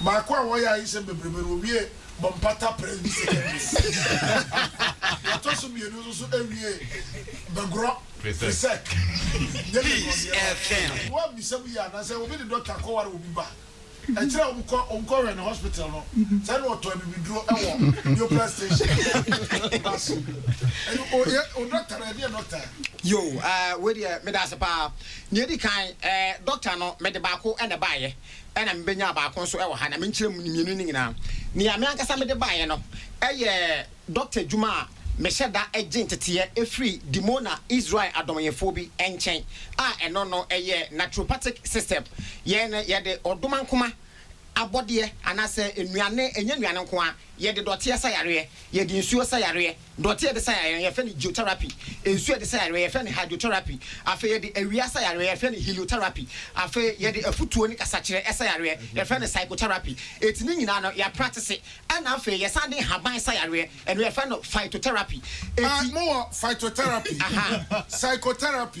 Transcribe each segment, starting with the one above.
Baako a wɔyɛ a nsɛm bebrebe no owiee Bompata Prairie Secondary na ɔtɔ so mmienu nso so wiee Bagorɔ Presec. Nyɛ ne nnɔdeɛwa. Wo a bisa mu yie a na sɛ obi de dɔkta kɔ ware obi ba a ɛkyerɛ a wɔkɔ wɔkɔ hwɛ no hospital no sɛ na ɔtɔ abibiduro wɔ neoplan station ba so ɛyɛ o yɛ o dɔkta no ɛdeɛ dɔkta a. Yoo ɛɛ wei deɛ meda ase paa. Nea edi kan ɛɛ dɔkta no mede baako na ɛbaeɛ. na mibenya baako nso wɔ ha, na menkyerɛ mo mmienu no nyinaa. Nea me ankasa mede baeɛ no yɛ dɔkta adwuma a mehyɛ da gye nteteeɛ firi Dimona Israel adɔmyɛfoɔ bi nkyɛn, a ɛno no yɛ naturopathic system. Yɛn no, yɛde ɔdomankoma abɔdeɛ, anaasɛ nnuane, ɛnyɛ nnuane nko ara, yɛde dɔteɛ sa yareɛ, yɛde nsuo sa yareɛ. Dɔte a yɛde sa yareɛ no yɛfrɛ no geotherapy, nsuo a yɛde sa yareɛ yɛfrɛ no hydrotherapy, afei yɛde awia sa yareɛ yɛfrɛ no heliotherapy, afei yɛde afutuo ne kasakyerɛ sa yareɛ yɛfrɛ no psychotherapy, enti ne nyinaa no yɛapratese, ɛna afei yɛsan de nhaban sa yareɛ, ɛno yɛfrɛ no phytotherapy, enti. Mowɔ phytotherapy, psychotherapy,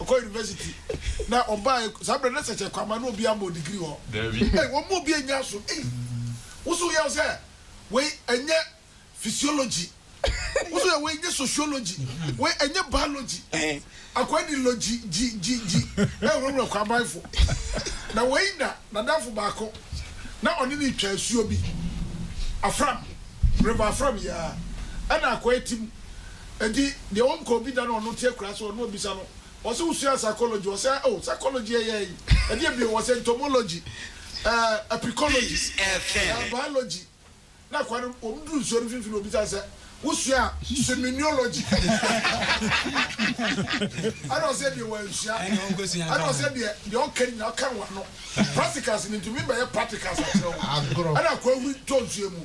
Ɔkɔ university na ɔbaa saa bere na sɛkyɛ kwama na obi ama odigiri hɔ. Dabi. Ei wɔn mu obi anya so ei woso yɛ sɛ wei ɛnyɛ physiology woso yɛ wei nyɛ sociology wei ɛnyɛ biology akwa di logy gyi gyi gyi ɛwurawura kwamanfo na wei na nadamfo baako na ɔne ne twa asuo bi afram river afram yɛ a ɛna akwa ti mu Enti deɛ ɔnkɔ obi da na ɔno te akuraa so hɔ na ɔbisa no, ɔse wosuaa psychology? Ɔse oh, psychology ɛyɛ ɛyi, ɛdeɛ bio? Ɔse entomology, ɛɛ apicology, ɛɛ biology. Na akoa no, wɔn duru nsuo no mfimfini na ɔbisa no sɛ, wosuaa simineology? Ɛna ɔse deɛ wansua. Ɛna ɔse deɛ, deɛ ɔka nyinaa ɔka no wano. Practicals no, ntumi mbɛyɛ practicals akyerɛ wo. Ɛna akoa hui tɔ nsuo mu.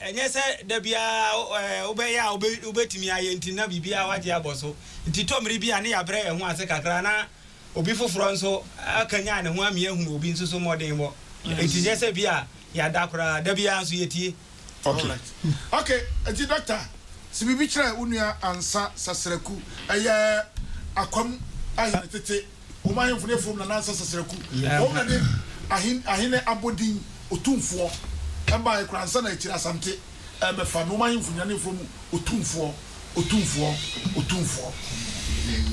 Ɛnyɛ sɛ da biara wobɛyɛ a wubetumi ayɛ nti na biribiara wagye abɔ so. Nti tɔ mmere bi a ne yɛabrɛ yɛn ho ase kakra na obi foforo nso akanyan ne ho amia ahunu obi nso so mmɔdenbɔ. Nti nyɛ sɛ bi a yɛada koraa, da biara nso yetie. Alright ok nti dɔkta se biribi kyerɛ wo nua ansa sasraku ɛyɛ akwam ayɛ ne tete. Wɔn ahemfo ne afurum na nansa sasaraku. Wɔn na de ahen ahene abɔdin Otumfoɔ ɛbaeɛ koraa ansa na akyire Asante ɛrebɛfa no. Wɔn ahemfo nyinaa ne afurum Otumfoɔ, Otumfoɔ, Otumfoɔ.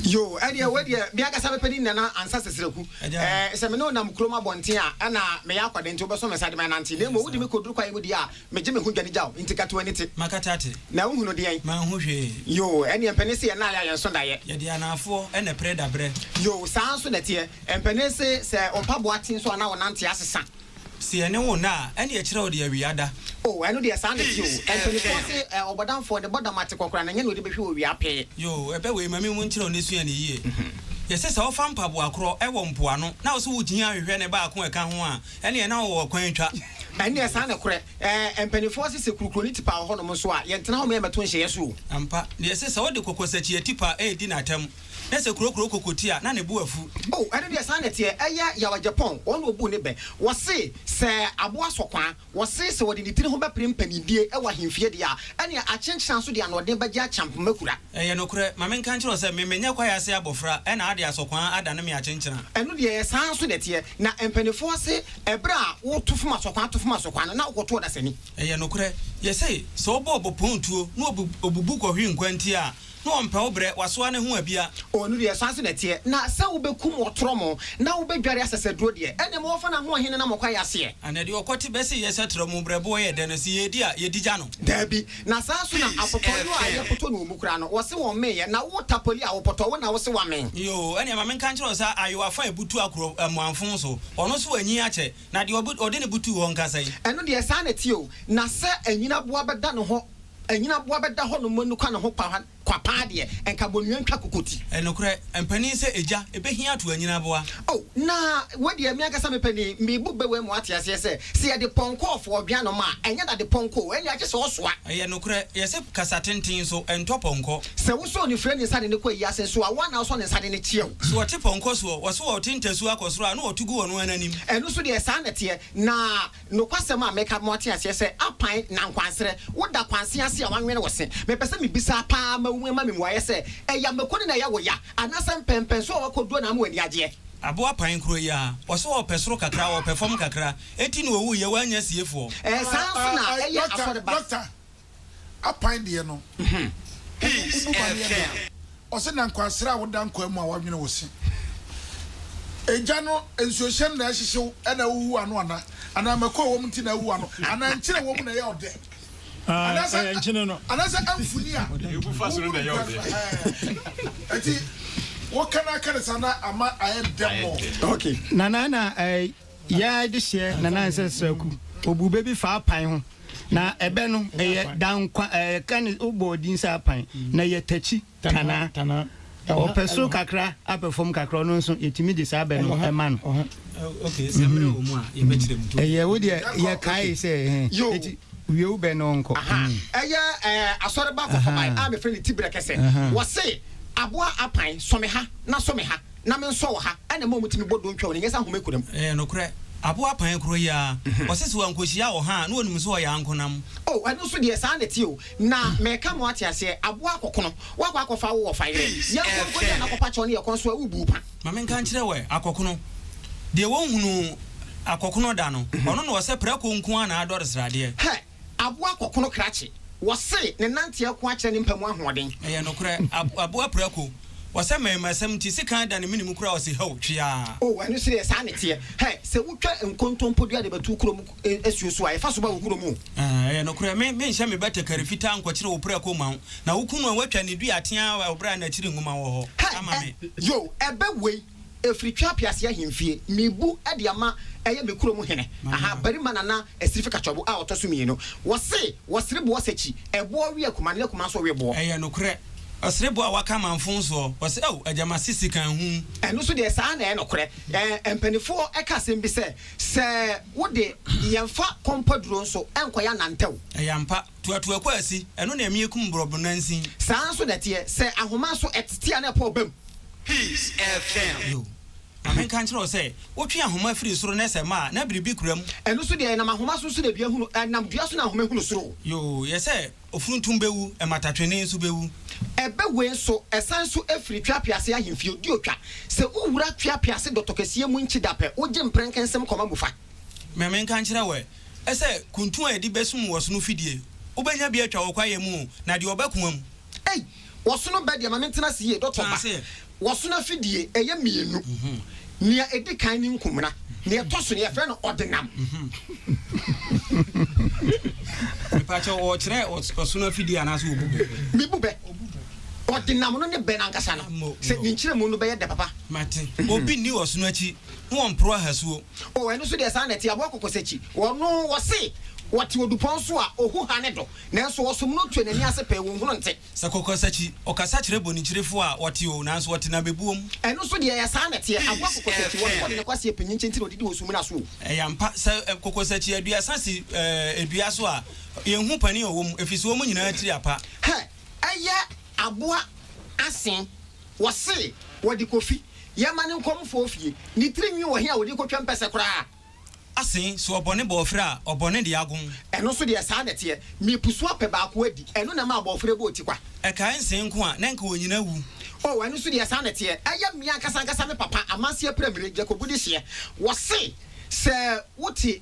Yoo, ɛdeɛ wei deɛ me ankasa mepɛ ne nyinaa na ansa sasaraku. Sɛ me ne wo nam kurom abɔnten a, ɛna meyɛ akwadaa nti wobɛso me nsa de me anante. Na mmom wode me kɔduru kwaeɛ mu deɛ a, Megye me ho dwane gyaw nti ka to ani te. Makata te. Na wohunu deɛn? Manhu hwee. Yoo, ɛneɛ mpanin se yɛn nna ayɛ a yɛn nso daeɛ. Yɛde anaafoɔ na ɛpere da berɛ. Yoo, saa ara nso na ɛteɛ. Mpanin se sɛ wo mpaboa te nso a na wo nante asesa. Se yɛne wo nna a, ɛneɛ ɛkyerɛ wo deɛ awia da. Oo, ɛno deɛ saa na ɛte oo. Mpaninfoɔ se ɔbɔdamfoɔ ne bɔ dama te kɔkora na ɛnyɛ na ɔde bɛhwe wɔ wia pee. Yoo, ɛbɛ wei ma me mu nkyerɛ wo na sua no yie. Yɛse sɛ wofa mpaboa korɔ wɔ mpoano na wo se wo gyina hwehwɛ ne baako a ɛka ho a, ɛneɛ na wo wɔ kwan twa. Ɛneɛ saa nokorɛ. Ɛɛ mpaninfoɔ se sɛ kurukuroni tipa wɔ hɔnom nso a, yɛntena hɔnom yɛmmɛto nhyɛeɛ so o. Ampa, deɛ se sɛ wode kokosakyia tipa redi n'atam, na sɛ kurokuro koko ti a, na ne bo afu. O, ɛno deɛ saa na ɛteɛ. Ɛyɛ Yawa Gyapɔn, wɔn na wɔbuu ne bɛ. Wɔse sɛ aboa sɔ kwan, wɔse sɛ wɔde ne tiri ho bɛpere mpaninnie wɔ ahemfie deɛ a, ɛneɛ akyenkyena nso de anoɔden bɛgye akyamp mɛkura. Ɛyɛ nokorɛ. Ma menka nkyerɛ wo sɛ, me menyɛ kwaeɛ ase abɔfra, ɛna ade asɔkwaa adane me akyenkyena. Ɛno deɛ ɛyɛ saa ara nso na ɛteɛ, na mpaninfoɔ se, ɛberɛ a woto fom asɔkwaa to fom asɔkwaa no, na wokɔto ɔdasani. Ɛyɛ nokorɛ. Yɛse, sɛ ɔbɔ ɔbɔpɔn tuo, na ɔbubu kɔhwe nkwantia a, na ɔmpɛ wo berɛ, wasoa ne ho abia. O, ɛno deɛ saa ara nso na ɛteɛ, na sɛ wobɛkum ɔtorɔmo, na wobɛdware asɛsɛduro deɛ, ɛnneɛ ma wɔmfa no ahoɔhene na mo kwaeɛ aseɛ. Ana deɛ ɔkɔte bɛse yɛsɛ torɔmo berɛboɔ yɛ dɛ no, se yɛredi a, yɛdi gya no? Daabi, Na saa nso na apotɔɔ yoo a yɛpotɔ no wɔmu koraa no wɔse wɔn meeyɛ na wo tapoli a wopotɔ wo na wose woamee. Yoo, ɛneɛ ma menka nkyerɛ wo sɛ ayowa fa a ebutu akoro mmoanfoo so, ɔno nso wanyin akyɛ, na deɛ ɔbu, ɔde ne butuu hɔ nka sɛn? Ɛno deɛ saa na ɛteɛ o, na sɛ anyinaboa bɛda ne hɔ, anyinaboa bɛda hɔ nom anukwa ne ho kwa, Kwapaa deɛ, nka bɔnua ntwa kokoti. Nokorɛ, mpanin sɛ egya, ebehia ato anyini aboa. O, na wei deɛ, me ankasa me panin, mebu bɛ wei mu ate aseɛ sɛ, sɛ yɛde pɔnkɔ ɔfo ɔdwe ano ma a, ɛnyɛ dade pɔnkɔ o, ɛnneɛ agye sɛ ɔsoa. Ɛyɛ nokorɛ, yɛse kasa tenten nso, ɛntɔ pɔnkɔ. Sɛ wosɔɔ no firii ne nsa de no kɔ ayi ase nso a, wo ara na wosɔ ne nsa de no kyeɛ o. Sɛ wɔte pɔnkɔ soɔ, wɔso wɔn te ntasuo akɔ soro a, na wɔto gu wɔn ara no anim. Ɛno nso deɛ, saa na ɛteɛ, na Nokwasɛm a meka bɛma woate aseɛ sɛ apan na nkwansrɛ, woda kwanse ase a woanwene wo se. Mepɛ sɛ mebisa paa ma woma me mmuaeɛ sɛ, ɛya mako ne na ɛyɛ wo ya, anaasɛ mpɛnpɛnsoɔ a woakɔduro na ama w'ani agyeɛ? Aboa pan koro yi aa. Ɔse wɔpɛ soro kakra, wɔpɛ fam kakra. Enti na ɔwuiɛ, wannya siefoɔ. Ɛɛ saa nso na ɛyɛ asɔre ba. apan deɛ no wobubu ma no yɛ dɛ a. Ɔse na nkwasra a woda nkwaa mu a w'adwene wo se egya no nsuohyɛn na ɛhyehye wo na ahuhu ano ana? Anaa mako a ɛwɔm nti na ahuhu ano? Anaa nkyene a ɛwɔ mu na ɛyɛ ɔdɛ? Anaasɛ anaasɛ amfuni a wobu no gua no ɛɛ nti woka no aka no saa na ama ayɛ dɛ mɔ? Nana na ɛɛ. Yɛɛ adehyeɛ na na ɛnsɛ sɛ ku. Ɔbuu bɛ bi faa apan ho. Na ɛbɛ no, ɛyɛ Dankwa, ɛɛ, ka ne, wobɔɔ din sɛ apan, na ɛyɛ takyi, tanaa. Ɔpɛ soro kakra, apɛ fam kakra, ɔno nso, yɛtumi de saa bɛ no ma no. Mmhmm. Ɛyɛ, wo deɛ, yɛkaee sɛ, ɛhɛn, enti, wie wo bɛ no nkɔ. Ahaa. Ɛyɛ, ɛɛ, asɔreba fɔfɔbae a mefrɛ no Tibrɛ Kɛsɛ. Wɔse, Aboa apan, sɔ me ha, na sɔ me ha. na me nsɔ wɔ ha na ɛma wɔtumi bɔ dontwa wɔ ne nyɛsa nhoma kura mu. Ɛyɛ nokorɛ. Aboa kpan korɔ yi ara, ɔse sɛ wankohyia ɔha a, na ɔnim sɛ ɔyɛ ankonam. O, ɛno nso deɛ, saa na ɛteɛ o. Na meka mo ate aseɛ, aboa akɔkono, woakɔ akɔfa wo wɔfa yerɛ, yɛnkɔ nkɔdi anakɔpa kyɛw ne yɛ kɔn so a, wobuu pa. Ma me nka nkyerɛ wo ɛ, akɔkono, deɛ wɔnhunuu akɔkono da no, ɔno na ɔsɛ prako nko ara na adɔre sradeɛ. Hɛ! Aboa kɔkono krakye, wɔse ne nante ako akyerɛ ne mpa mu ahoɔden. Ɛyɛ nokorɛ, aboa prako, wɔsɛ mmarimasɛm nti sekan da ne mene mu koraa ɔse hɛw, tweaa. Oh, ɛno nso deɛ saa ne teɛ. Hɛ, sɛ wotwa nkontompo dua de bɛto kurom asuo so a, ɛfa so ba wo kurom o. Ah, ɛyɛ nokorɛ, me, menhyɛ me batakari fitaa nkɔkyere wo prako mma wo, na wo kunu a woatwa ne dua ateaa wɔ berɛ a n'akyiri nwoma wɔ hɔ ama me. Hɛ, ɛ, yoo, ɛbɛ wei, Ɛfiri Twaa Piase Ahemfie, Mebu de ama ɛyɛ me kurom hene, aha, barima Nana Asirifi Katsɔbo a ɔtɔ so mmienu. Wɔse, wɔsere boɔ sakyi, ɛboɔ we akuma ne akuma nso we boɔ. Ɛyɛ nokorɛ. Ɔsere boɔ a waka amanfo nsoɔ, ɔse, Ao, agya mase sika nhu. Ɛno nso deɛ, saa na ɛyɛ nokorɛ. Ɛɛ, mpaninfoɔ ka asɛm bi sɛ, Sɛ wode yɛn fa kɔmpaduro nso, ɛnkɔyɛ anantɛw. Ɛyɛ ampa. Tuatua kwaasi, ɛno na ɛmeɛ kum borɔbo nansin. Saa ara nso na ɛteɛ sɛ ahoma nso ɛtete a na ɛpɔ ɔbam. Peace FM. Yo, ma menka nkyerɛ wo sɛ wotwe ahoma firi soro na ɛsɛ ma a, na biribi kura mu. Ɛno nso deɛ, ɛnam ahoma so nso na dua hunu, ɛnam dua so na ahoma hunu soro. Yo, yɛ sɛ ofuntum bɛwu, mmatatwene nso bɛwu. Ɛbɛwe nso, ɛsan nso firi tweapease ahemfie, di otwa. Sɛ wowura tweapease dɔtɔkɛseɛ mu nkyedapɛ, wogye mprɛnkɛnsɛm kɔma mu fa. Ma menka nkyerɛ wo ɛ, sɛ kuntu a yɛde bɛsum wɔ ɔsono fidie, wobɛnya bi atwa wɔ kwaeɛ mu o, na deɛ ɔbɛ koa mu. Ei! Ɔsono bɛ deɛ ma me ntena ase yie, Dɔtɔ ba. Tena ase. Ɔsono afidie, ɛyɛ mmienu. Nea ɛdi kan ne nkomena, nea ɛtɔ so no, yɛfrɛ no ɔdenam. Mepa kyɛw, ɔrekyerɛ ɔsono afidie anaasɛ ɔbu bɛ? Mebu bɛ. Ɔdenam no ne bɛ no ankasa no, sɛ ne nkyerɛmu no bɛyɛ dɛ papa. Mate. Obi nni ɔsono akyi. ho wɔ mporoa hasuo. O, ɛno nso deɛ saa na ɛte, aboa kɔkɔsakyi. Wɔno, wɔse, wɔte odupɔn so a, ohu hane do, nanso wɔsom no tue n'ani ase pɛɛ, wɔnhunu nte. Sɛ kɔkɔsakyi, ɔkasa kyerɛ bonikyirefo a, wɔte o, nanso wɔte na bebuo mu. Ɛno nso deɛ ɛyɛ saa na ɛteɛ, aboa kɔkɔsakyi, wɔno wɔde ne kwaseɛ pinyin kyenkyen na ɔdidi wɔ sumina so o. Ɛyɛ ampa, sɛ kɔkɔsakyi aduasa si eh, dua so a, yɛnhu panin a ɔwɔ mu, ɛfiri sɛ wɔn nyinaa tiri apa. Hɛ, ɛyɛ aboa asen. Wɔse wɔde Kofi yɛ ma ne nkɔmfoɔ fie. Ne tiri nwi wɔ he a wɔde kɔtwa mpɛsɛ koraa? Ase, so ɔbɔne bɔ ɔfere a, ɔbɔne de agom? Ɛno nso deɛ, saa na ɛteɛ. Mepusu apɛ baako adi. Ɛno na ɛma abɔɔfere bɔ ɔtikwa. Ɛkae nse nko a, na nka ɔnyina awu. O, ɛno nso deɛ, saa na ɛteɛ. Ɛyɛ me ankasa ankasa me papa, amanseɛ pira mire, Jacob de hyeɛ. Wɔse sɛ wote.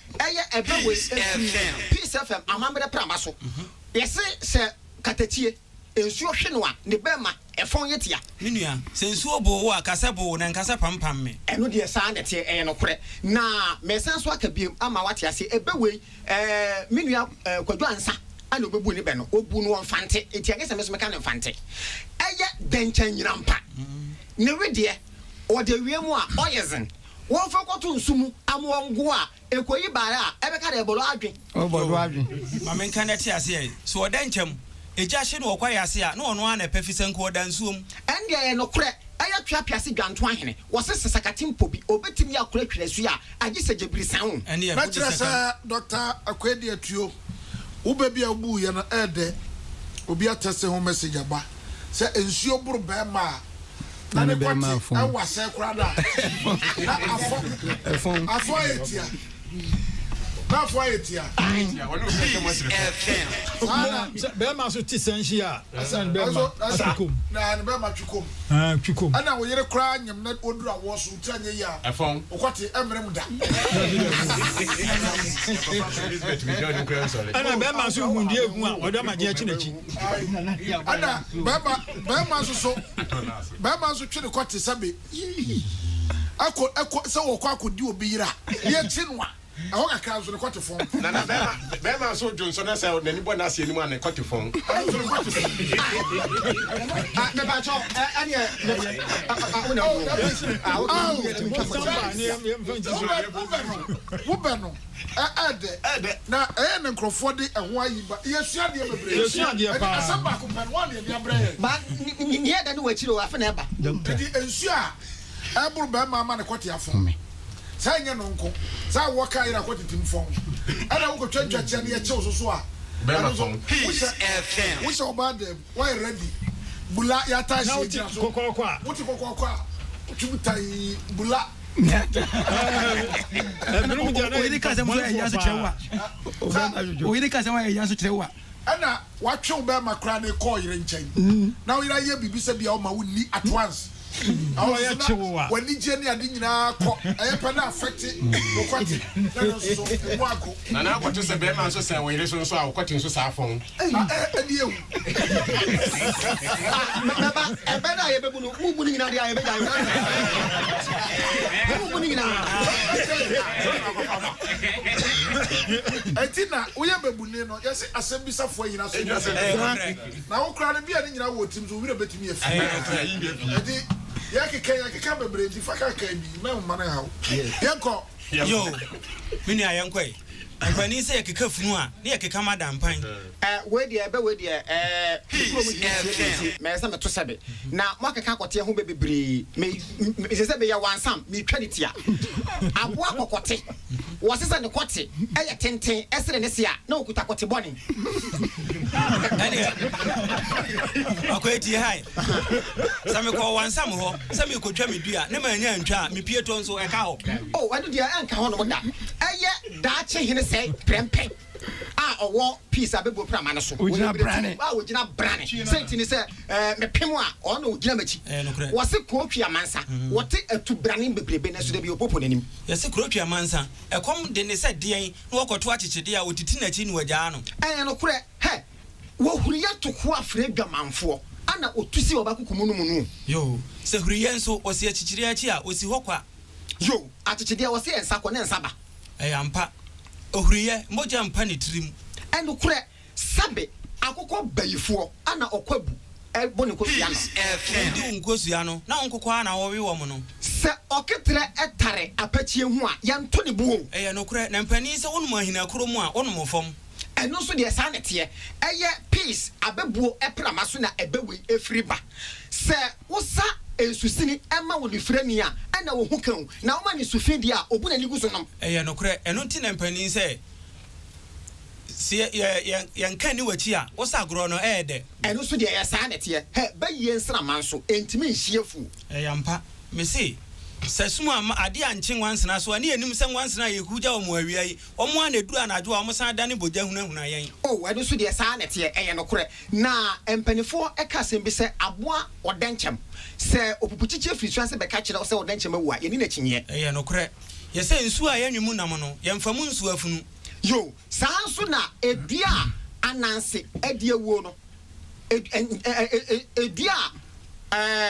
Ɛyɛ ɛbɛ wei ɛfiri Peace FM amammerɛ prama so. Yɛse sɛ katakyie nsuo hwe no a ne bɛ ma ɛfɔn yɛ tia. Me nua, sɛ nsuo boo wo a ka sɛ boo na nka sɛ pam pam me. Ɛno deɛ saa na ɛteɛ, ɛyɛ nokorɛ. Na mesan nso aka biom ama wate aseɛ, ɛbɛ wei ɛɛ me nua ɛɛ Kwadwo Ansa na ɔbɛbuu ne bɛ no, ɔbuu no wɔ Mfante nti ɛnyɛ sɛ me nso meka no Mfante. Ɛyɛ dɛnkyɛn nyinampa. Ne wedeɛ ɔde awie mu a ɔyɛ dzen. Wɔmfa nkɔto nsu mu ama wɔngow a, ekoyi baare a, ɛbɛka dɛ bɔdɔ adwen. O bɔdɔ adwen. Ma menka na ɛte ase ɛ. Sɛ ɔda nkyɛm, egya hye no wɔ kwae ase a, na ɔno ara na ɛpɛ fi sanku ɔda nsuo mu. Ɛnde ɛyɛ nokorɛ, ɛyɛ tweapease dwanto ahene, wɔse sɛ sakate mpo bi, ɔbɛtim yɛ akora twiri asu a, agye sɛ gyabiri san o. Na kyerɛ sɛ Doctor Akwedi Atuo, wo bɛ bi a wobuu yɛ no ɛɛdɛ, obi atɛse ho message aba. sɛ nsuo boro bɛɛma a na ne kɔte ɛwɔ asɛɛ koraa na na afɔ afɔ ayɛ tia na afɔ ayɛ tia bɛɛma so te sɛ nhyia ɛsɛ ne bɛɛma atwikom na ne bɛɛma twikom twikom ɛna wo yere koraa nyem na ɔduru awɔ so tira nyɛ yi a ɔkɔte ɛmmerɛ mu da ɛna bɛɛma so hu deɛ ɛhu a ɔdɔ ma gye akyi n'akyi ɛna bɛrima bɛrima nso so bɛrima nso twe ne kɔ te sɛ be ɛkɔ ɛkɔ sɛ wɔkɔ akɔdi obi yera ne akyi no a ɛhɔ kakra nso ne kɔ te fɔn. na na bɛrima bɛrima nso dwo nso na sɛ n'ani bɔ n'ase anim a ne kɔ te fɔn. ɔno nso ne kɔ te fɔn. mepatɔ ɛneɛ wona wobɛ no wobɛ no Ɛ ɛyɛ dɛ. Ɛyɛ dɛ. Na ɛyɛ na nkurɔfoɔ de ɛho ayi ba. Yɛsua adeɛ bebree. Yɛsua adeɛ paa. Ɛnti asɛm baako pɛ no, woana de abrɛ yɛn? Ba, ne nea ɛda ne wɔ akyiri o, afe na ɛba. Ɛnti nsuo a ɛboro bɛrima ama no kɔte afɔn me. Sɛ ɛnyɛ no nko, sɛ awoɔ kaa yere a kɔtete mu fɔn. Ɛna wokɔtwa ntwakyia na yɛkyew so so a, ɛno nso, wohyɛ, wohyɛ ɔbaa dan mu, woayɛ ready, bula, yɛatae hyɛ gyina so. Wote kɔkɔɔkɔ a. Wote kɔkɔɔkɔ a, twi mu tae, bula. oyere kasɛm so ɛya so kyerɛ wa oyere kasɛm a ɛya so kyerɛ wa ɛna watwe wo bɛrima koraa ne kɔɔ yere nkyɛn mm. na wo yere ayɛ biribi sɛ bia woma wonni at mm. once wanigye ne ade nyinaa kɔ ɛyɛ pɛ no afɛkte wokwate na no nso mu ago nana akɔto sɛ bɛrima nso sɛ wo yere so nso a wokɔte nso saa fɔn ɛdeɛ Mɛba, ɛbɛ da a yɛbɛbu no, mo bu no nyinaa deɛ a yɛbɛgya yɛ. Mo bu no nyinaa. Ɛti na woyɛ bɛbuni no, yɛse asɛm bisa foɔ nyina so nyɛ pɛ. Na wo koraa no bia ne nyina wɔ tirim so, wo werɛ bɛtumi afi. Ɛti yɛkeka yɛkeka bebree nti fa kakaa bi, mɛmma no nhaw. Yɛnkɔ. Yo, me nua yɛnkɔ ɛ. Nkɔani sɛ yɛkeka funu a, ne yɛkeka ma da mpan. Eh, wei deɛ ɛbɛ wei deɛ eh, me kuro mu hwee nsie me nti, mɛyɛ sɛ meto sɛbe. Na moakeka akɔteɛ ho bɛ bebree, me, me, sɛ sɛ meyɛ wansam, metwa ne tia. Aboa kɔkɔte, wɔse sɛ ne kɔte yɛ tenten sene ne se a, na ɔkuta kɔte bɔne. Ɛneɛ, Ɔkwati, hi. Sɛ mekɔ ɔwansam hɔ sɛ merekɔtwa me dua na mannya antwa a, me pietɔ nso, ɛka hɔ? O, ɛno deɛ ɛnka hɔnom da. Ɛyɛ daakye hene sɛe prɛmpɛ a ɔwɔ peace a bɛbɔ prama no so. Ɔgyina brane. A ɔgyina brane. Sɛ nti ne sɛ, ɛɛ, mepem a, ɔno na ɔgyina m'akyi. Ɛyɛ nokorɛ. Wɔse kuro twe amansa. Wɔte atubrane bebrebe nanso da bi ɔpopo n'anim. Yɛse kuro twe amansa. Ɛkɔm de ne sɛ deɛn na wɔkɔto akyekyedeɛ a ɔtiti n'akyi na wɔagyaa no. Ɛyɛ nokorɛ. Hɛ! Wɔhuri yɛ to hoa frɛ adwamanfoɔ, ana ɔtu si ɔba kuku mu no mu no o. Yoo, sɛ huri yɛ nso ɔsi akyikyireɛ akyi a, ɔsi hɔ kwa. Yoo, akyekyedeɛ ɔse yɛ nsa kɔ ne nsa ba. Ɛyɛ ampa, ɔhuri yɛ, mogya mpa ne tiri mu. Ɛnokorɛ, sɛbe akokɔ bayifoɔ, ana ɔkɔ abu, ɛbo ne nkosua ano. Wɔdi wo nkosua no, na wo nkokɔ ara na wɔwe wɔn no. Sɛ ɔketerɛ tare apakyie ho a, yɛnto ne bo o. Ɛyɛ nokorɛ, na mpanin sɛ wɔnom ahina koro mu a, wɔnom fam. Ɛno nso deɛ saa na ɛteɛ. Ɛyɛ peas abɛbuo prama so na ɛbɛwe firi ba. Sɛ wosa nsusini ma onifirani a, ɛnna ɔhu ka o, na woma no nsu fi deɛ a, ɔbu n'ani gu so nom. Ɛyɛ nokorɛ. Ɛno nti na mpanin sɛ, sɛ yɛ, yɛ, yɛ, yɛnka nni w'akyi a, wo sa agorɔ no, ɛyɛ dɛ. Ɛno nso deɛ ɛyɛ saa na ɛteɛ. Hɛ, bayie nsramma nso, ɛntumi nhye afuo. Ɛyɛ ampa. Mese, sɛ sum amma, adeɛ ankye nwansena so a, ne yɛnim sɛ nwansena a yɛhugya wɔn awia yi, Wɔn ara na ɛduru anadwo a, wɔsan dane bogya hunahuna yɛn. O, ɛno nso deɛ, saa ara na ɛteɛ, ɛyɛ nokorɛ. Na mpaninfoɔ ka asɛm bi sɛ, Aboa ɔdɛnkyɛm, sɛ ɔpupukyikyie firi soro ase bɛka kyerɛ wo sɛ ɔdɛnkyɛm awu a, yɛnni n'akyinnyeɛ. Ɛyɛ nokorɛ. Yɛsɛ nsuo a yɛnwe mu nam no, yɛmfa mu nsuo afunu. Yoo, saa ara nso na dua a ananse adi awuo no. Edi a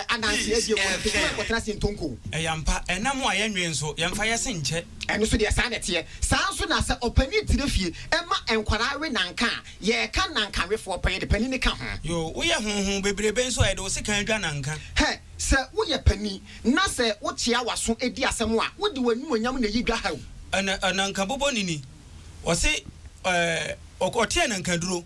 adanseɛ die wɔ no, kɔkɔɔ kɔtena ase ntonko. Ɛyɛ ampa, ɛna mo a yɛnnwen nso, yɛmfa yɛ se nkyɛ. Ɛno nso deɛ saa na ɛteɛ. Saa nso na sɛ ɔpanin tena fie ma nkwadaa we nanka a, yɛreka nanka wefoɔ pɛn, yɛde panin no ka ho. Yoo, woyɛ hoho bebrebe nso a, yɛde wo sekan adwa nanka. Hɛ, sɛ woyɛ panin na sɛ wokyea w'aso di asɛm a, wode w'animuonyam na ɛyi dwa ha o. Ɛna nanka bobɔ nini, wɔse ɔteɛ nanka duro.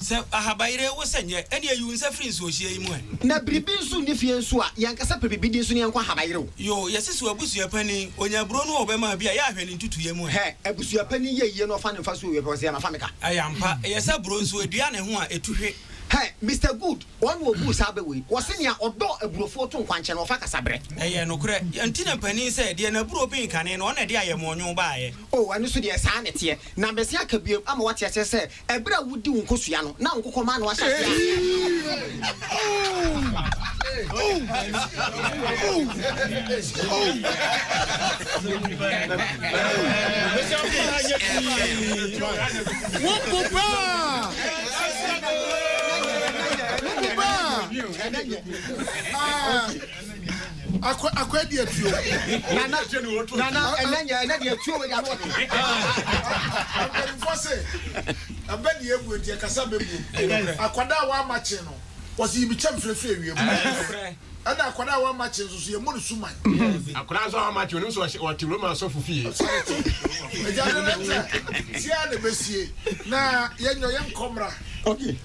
Sɛ ahabayire rewo sɛ nyɛ, ɛnneɛ yi wo nsa firi nsuohyeɛ yi mu ɛ. Na biribi nso nni fie nso a, yɛnkasa pɛ biribi din so na yɛnkɔ ahabayire o. Yoo, yɛse so abusua panin, ɔnya aburo no a ɔbɛma a bi a, yɛ a hwɛ ne ntutuiɛ mu ɛ. Hɛ, abusua panin yɛ yie na ɔfa ne mfa so o, yɛpɛ ɔse yɛma fa meka. Ɛyɛ ampa, ɛyɛ sɛ aburo nso, ɛdua ne ho a, ɛtu hwe. Hɛ, Mister Good, wɔn na wɔbuu saa bɛ wei, wɔse nea ɔdɔ aburofoɔ to nkwankyɛn na ɔfa kasa berɛ. Ɛyɛ nokorɛ, yɛ nti na panin sɛ, deɛ n'aburo ben kane no, ɔna ɛde ayɛmɔɔnwoo baeɛ. Oo, ɛno nso deɛ, saa na ɛteɛ. Na mese aka bio ama woate aseɛ sɛ, Ɛberɛ a wodi wo nkosua no na wo nkokɔmma ano ahyɛ aseɛ a. akɔ akɔ adi atuo nana nana ɛnɛ nyɛ ɛnɛ deɛ atuo wei de ano ɔte mpanyinfoɔ se ɛbɛ deɛ ebu eti ɛkasa bɛ bu akwadaa a wama kyen no wɔsi yi bi kyɛm firifiri ewiem ɛna akwadaa a wama kyen nso so yɛ mu no suman akwadaa nso a wama kyen no nso ɔte wura mu asɔfo fie ɛgya de ne nkyɛn tia na bɛ sie na yɛ nyɔ yɛ nkɔmra. Okay.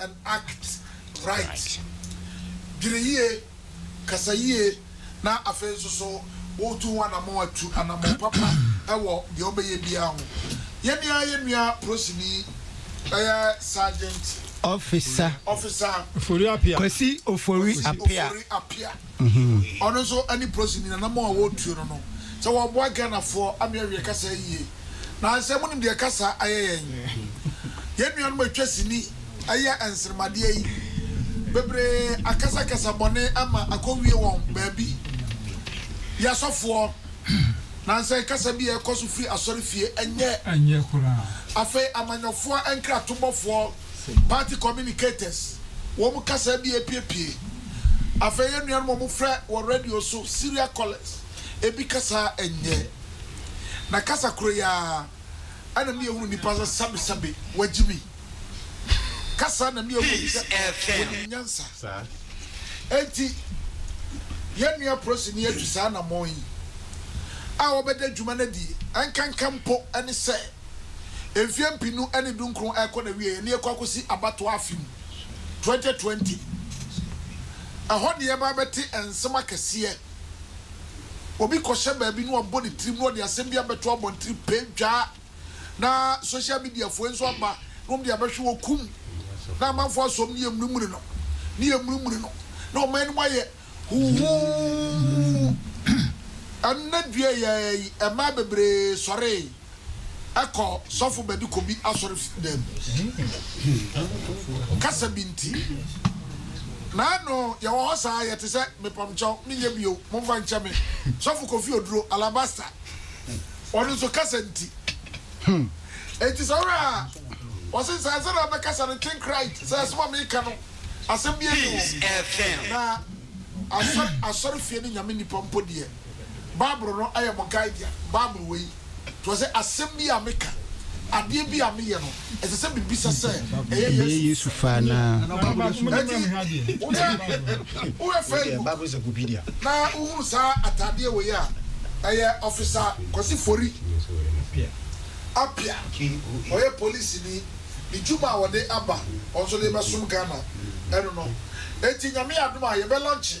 and act right. Dwene yie, kasa yie, na afei nso so woretu ho anammɔn a, tu anammɔn papa wɔ deɛ wobɛyɛ biara ho. Yɛne ara yɛn nua polisini bɛyɛ Sergeant. Ɔfisa. Ɔfisa. Ofori Appiah. Kwasi Ofori Appiah. Kwasi Ofori Appiah. Ɔno nso ne polisini, n'anammɔn a wɔretuo no no, sɛ wɔboa Ghanafoɔ ama yɛawie kasa yie. Nansɛ monim deɛ kasa ayɛ yɛn. Yɛn nuanom a atwa sini ɛyɛ nsermadeɛ yi bebree akasa kasa bɔne ama akɔwie wɔn baabi. Yɛ asɔfoɔ, nansɛ kasa bi a ɛkɔso firi asɔrefie ɛnyɛ. Afei amanyɔfoɔ nkratobɔfoɔ, party communicators, wɔn kasa bi a ɛpiepie. Afei yɛn nuanom a wɔfrɛ wɔ radio so, serial callers. ebi kasa nyɛ. Na kasa koro yi ara na me ehunu nipa sɛ sabi sabi wagye me. Kasa na me ehunu sɛ onim nyansa. Enti yɛn nua polisini yi atu saa anamɔn yi a ɔbɛda adwuma no adi nkanka mpo ne sɛ mfeɛ mpenu ne dunkron rekɔ n'awieɛ na yɛkɔ akɔsi abatoɔ afe mu 2020. Ɛhɔ na yɛbɛba abɛte nsɛm akɛseɛ. Obi kɔhyɛ baabi na wabɔ ne tirim na ɔde asɛm bi abɛto abɔntene pɛ dwaa na social media foɔ nso aba na wɔn de abɛhwe wɔ kum na amanfoɔ asɔm ne yɛmunimuni no ne yɛmunimuni no na ɔman no mu ayɛ huhuu ɛno na dua yɛɛyi ɛmaa bebree sɔree. kɔ sɔfo bɛde kɔ bi asɔre dan mu kasa bi nti na ɛno yɛwɔ hɔ saa yɛte sɛ mepamkyɛw menyɛ bio momfa nkyɛ me sɔfo kofi oduro alabasta ɔno nso kasa nti enti sɛ wura a wɔse sɛ ɛsɛ na ɔbɛkasa no think right sɛ ɛsɛ ma meka no asɛm bi ɛni hɔ na asɔre fie ne nyame nipa mpo deɛ Bible no ayɛ mo guide dea. Bible wei to ase asɛm bi a meka, adeɛ bi a meyɛ no, ɛsɛ sɛ mebisa sɛ ɛyɛ Yesu? Yesu fa anaa? Enti woyɛ woyɛ Facebook na wohunu saa ataadeɛ wei a, ɛyɛ ɔfisa Kwasi Fori Apia, ɔyɛ polisini, ne dwuma a ɔde aba, ɔno nso de rebɛsom Ghana ɛno no. Enti Nyame adom a yɛbɛ launche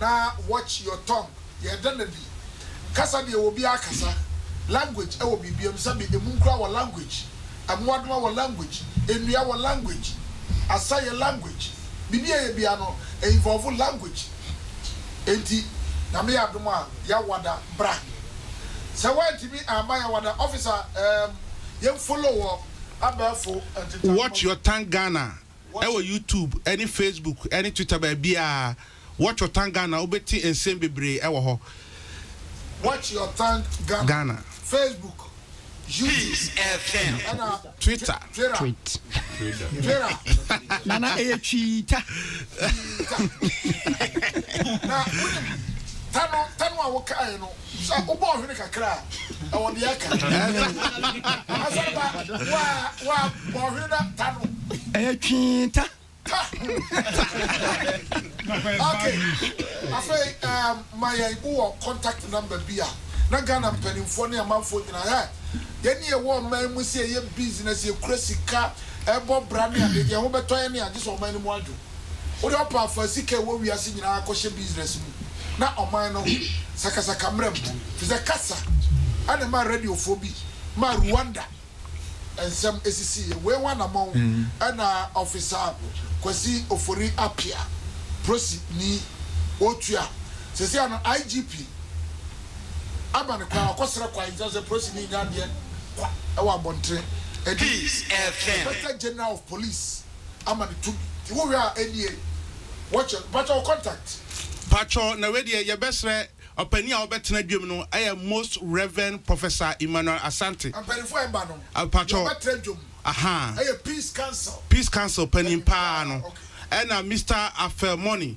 Na watch your tongue yɛ dɛn na bi kasa deɛ wɔ biaa kasa language ɛwɔ biribiam sɛbi ɛmu nkura wɔ language ɛmoadoma wɔ language ɛnua wɔ language asa yɛ language biribi a ɛyɛ biaa no ɛ involve language ɛnti nyame yɛ adom a yawada bra sɛ wantimi amma yawada officer ɛɛm yɛn follow wɔ abɛɛfo ntentamu watch your tongue Ghana Ɛwɔ YouTube ne Facebook ne Twitter baabiaa. Watch or thank Ghana wobɛte nsɛm bebree ɛwɔ hɔ. Watch or thank Ghana, Facebook, YouTube ɛna Twitter. Twitter. Nana ɛyɛ twiita. Twiita. Na wonim ta no ta no a wokaeɛ no. Sɛ wobɔɔ hwene kakra a, ɛwɔ deɛ ɛka. Asɛmpa, wa, wa, bɔɔ hwene na ta no. Ɛyɛ twee ta. Ta. ok, afei um, ma yɛn wo wɔ contact number bi a, na Ghana mpanimfoɔ ne amanfoɔ nyinaa, hɛ, yɛn ne yɛwɔ ɔman mu sɛ yɛyɛ business, yɛkura sika, ɛbɔ bra ne adeɛ, deɛ ɛho bɛtɔ yɛn ne agye sɛ ɔman no mu adwo. Wode ɔpaafoa sika a ɛwɔ wiase nyinaa kɔhyɛ business mu na ɔman no sakasaka mmara mu, ɛfiri sɛ kasa na ɛmaa radiofoɔ bi maa Rwanda nsɛm sisiiɛ. Wei ho anammɔn na Ɔfisa Kwasi Ofori Appiah, Prosi ni, ɔretua. Seesei ano IGP aba ne kwan, wakɔsrɛ kwan, nti na sɛ Prosi ni nya adeɛ kwa wɔ abɔntene. Ɛde Inspector General of Police. ama no tumi nti wo hwɛ a ɛnie wɔkyɛ no mpakyɛ wo contact. Pakyɛ na wei deɛ yɛbɛsrɛ ɔpanin a ɔbɛtena adwam no ɛyɛ most reverend professor Emmanuel Asante. Mpaninfoɔ a ɛmba no deɛ ɔbɛtra adwam ɛyɛ peace council. Peace council panin paa no ɛna Mister Afel Money.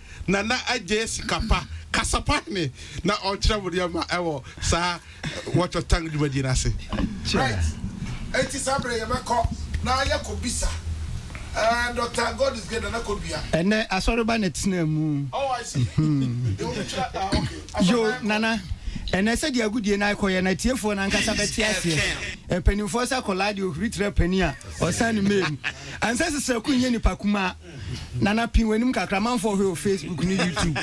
Nana Adjei Sikapa, kasa pa hene na ɔnkyerɛ mo nneɛma wɔ saa Watch Your Tongue dwumadie no ase. Right, enti saa berɛ yɛbɛkɔ na yɛakɔ bisa ɛɛ Doctor God is Great Nana Kodua. Ɛnnɛ asɔreba na ɛtenaa mu. Oh I see, deɛ wɔn kyerɛ ah ok, asɔreba Yo, yɛkɔ. Nana, ɛnnɛ sɛdeɛ agodie no akɔyɛ no atiefoɔ no ankasa bɛte aseɛ. Mpanimfoɔ sɛ akwadaa deɛ ɔhuri tra panin a, ɔsan ne mɛɛ mu. Ansɛ sesrɛko nyɛ nipa kumaa. Nana pii w'anim kakra manfoɔ hwɛ wɔ Facebook ne YouTube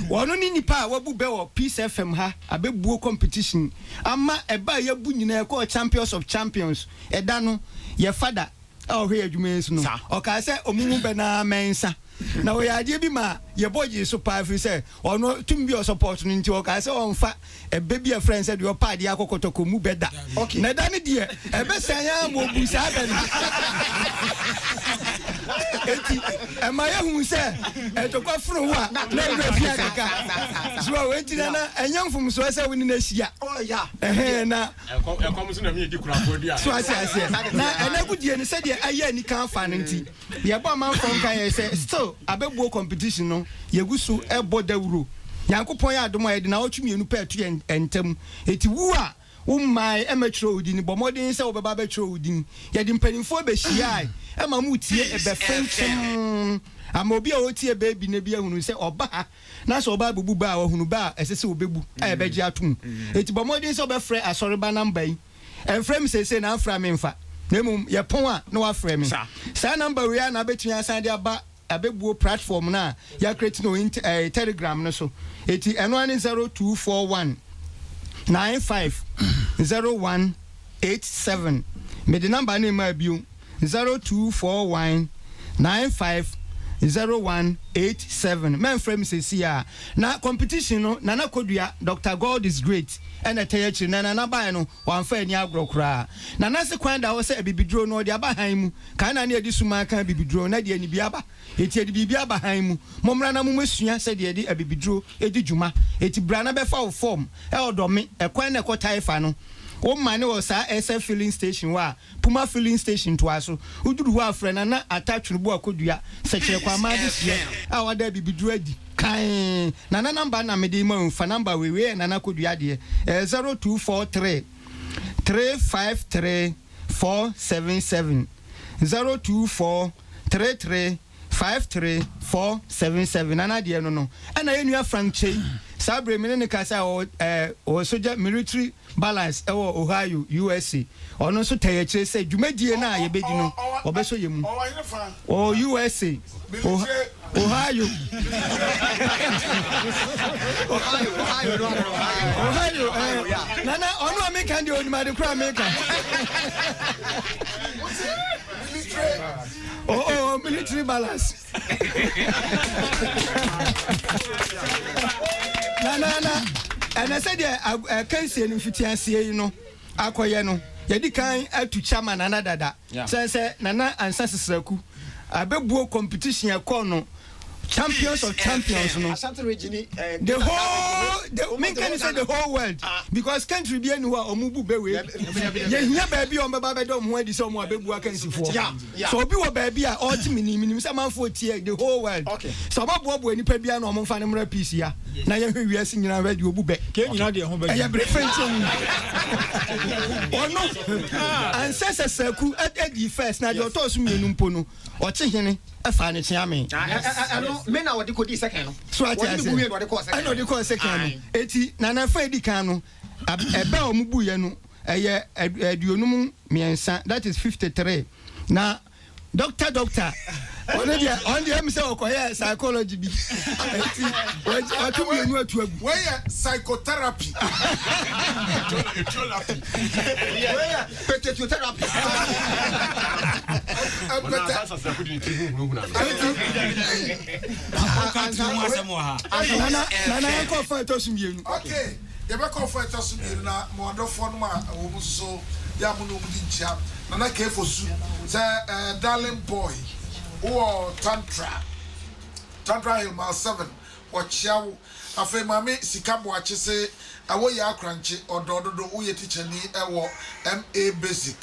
wɔno ne nipa a wabu bɛ wɔ peace FM ha abɛbuo competition ama ɛbaa yɛbu nyinaa ɛkɔɔ champions of champions ɛda no yɛ fada a ɔhwɛ yɛ adwuma yɛsu no ɔkaa sɛ ɔmo mu bɛ naa mɛnsa na ɔyɛ adeɛ bi maa yɛbɔ gyee so paa ɛfiri sɛ ɔno tumi bi ɔsupporto no nti ɔkaa sɛ ɔnfa Ɛbɛ bi a ɛfrɛ no sɛ deɛ ɔpa adeɛ akɔ kɔtɔkɔ mu bɛ da. Na ɛda no deɛ, ɛbɛsɛn ara ma ɔbu saa bɛ no. Enti, ɛma yɛhu sɛ ntɔkwa foro hɔ a, na ne werɛ fi akeka. So a enti na na ɛnyɛ mfomsoɔ sɛ wo ne no ahyia? Ɛhɛn, na. So ate aseɛ? Na ɛnnɛ agodie no, sɛdeɛ ɛyɛ anika afa no nti, Yɛbɔ amanfoɔ nkaeɛ sɛ still abɛbuo competition no yɛgu so bɔ dawuro. Nyankopɔn yɛ adom a yɛde naawɔtwe mmienu pɛ ato yɛn ntam. Enti wo a wo mmae mmɛtwerɛ wo din bɔ mmɔden sɛ wobɛba abɛtwerɛ wo din. Yɛde mpaninfoɔ bɛhyiae ma motie ɛbɛ fenkyem ama obi a ɔretie ɛbɛ bi nnɛ bi ahunu sɛ ɔba ha na sɛ ɔba abɛbu bɛ a wahunu bɛ a ɛsɛ sɛ ɔbɛbu a yɛbɛgye atom. Enti bɔ mmɔden sɛ wobɛfrɛ asɔreba namba yi. Ɛmfrɛ me seesei na amfra me mfa, na mmom yɛpɔn a na wafrɛ me. Saa namba wei ara na abɛtumi asan de aba abɛbuo platform no a yɛakreti no int ɛɛ telegram no so. Eti ɛno ara ne zero two four one nine five zero one eight seven. Mede namba no mmaa bio. zero two four one nine five zero one eight seven mɛnfrɛ me sɛsi a na competition no nana kodua Doctor God is great ɛna ɛtɛɛ akyiri na nana baɛ no wanfa ani agorɔ koraa nana se kwan da hɔ sɛ abibiduro no ɔde aba han mu kan na ne ɛde sumaa ka abibiduro na deɛ anibia aba eti ɛde biribi aba han mu mommra na momɛ sua sɛdeɛ ɛde abibiduro ɛdi dwuma eti bra na bɛfa wo form ɛɔdɔ me ɛkwan na ɛkɔ taifa no wo mane wɔ saa ɛsɛ filling station hɔ a. Puma Filling Station ntoaso. Woduru hɔ a, frɛ Nana Atta Twereboa Kodua Sɛkyerɛ Kwamma adehyeɛ a wada abibiduro adi kann. Nana number na mede rema wo yi, fa number wei, wei yɛ Nana Kodua deɛ, ɛyɛ 0243 353 477, 0243 3. five three four seven seven nana deɛ no no ɛna yɛn nua Frank Kyei saa bere mi ne ne kasa ɔwɔ ɛɛ ɔwɔ sogya military balance ɛwɔ Ohio USA ɔno nso tɛ yɛ kyerɛ sɛ dwumadie no a yɛbɛdi no ɔbɛsɔ yɛ mu ɔwɔ USA Ohio Ohio ɛɛ nana ɔno a meka deɛ onim ade koraa meka. Oh, oh, military balance. na na na ɛnɛ sɛ deɛ akansie no mfitiaseɛ yi no akɔyɛ no yɛdi kan atu kya ma nana dada sɛ sɛ nana ansa sesraku abɛbuo competition ɛkɔɔ no champions of champions no the whole the menka ne sɛ the whole world ah. because country bi ani hɔ a ɔmo bu bɛwei yɛhia baabi a ɔmbɛba bɛda ɔmo ho adi sɛ ɔmo abɛbu akansifoɔ sɛ obi wɔ baabi a ɔte menim menim sɛ manfoɔ tie the whole world sɛ ɔbɛboaboa nnipa bia na ɔmo mfa no mmra peace ya na yɛhwɛ wiase nyinaa hwɛ deɛ ɔbu bɛ ɛyɛ bere fɛnti wu ɔno ansɛ sɛ sɛku adi first na deɛ ɔtɔɔ so mmienu mpo no Ɔkye hene faa ne kyea mee. Ah, ɛ, ɛ, ɛno, me na ɔde kɔdii sɛkɛn no. So ate Ɔne me aseɛ? bu wie na ɔde kɔɔ sɛkɛn Ɛna no. ɔde kɔɔ sɛkɛn no. Ae. Enti, n'anaafa a edi kan no, ab, ɛbɛ a wɔbuiɛ no, ɛyɛ ad, aduonum mmiɛnsa, that is fifty three. Na Doctor, Doctor, ɔno deɛ, ɔno deɛ ɛyɛ me sɛ ɔkɔyɛɛ psychology bi. Enti, wagye, wato Ɛwɛ, mmienu ato agu. wei yɛ psychotherapy. Etiolapi. Wei yɛ. Potato therapy. Nana yɛ kɔ fɔ ɛtɔ so mmienu. Okay, yɛ bɛ kɔ fɔ ɛtɔ so mmienu na mo adɔfoɔ no ma wɔn mu soso yɛ amu na wɔn di nkyia. Nana kefo su sɛ ɛɛ darling boy wɔ tantra tantra hill mile seven. Wɔkyea wo. Afei Maame Sika Boakye se ɛwɔ Yaa Krankye ɔdɔɔ dodo woyɛ tikyani ɛwɔ MA basic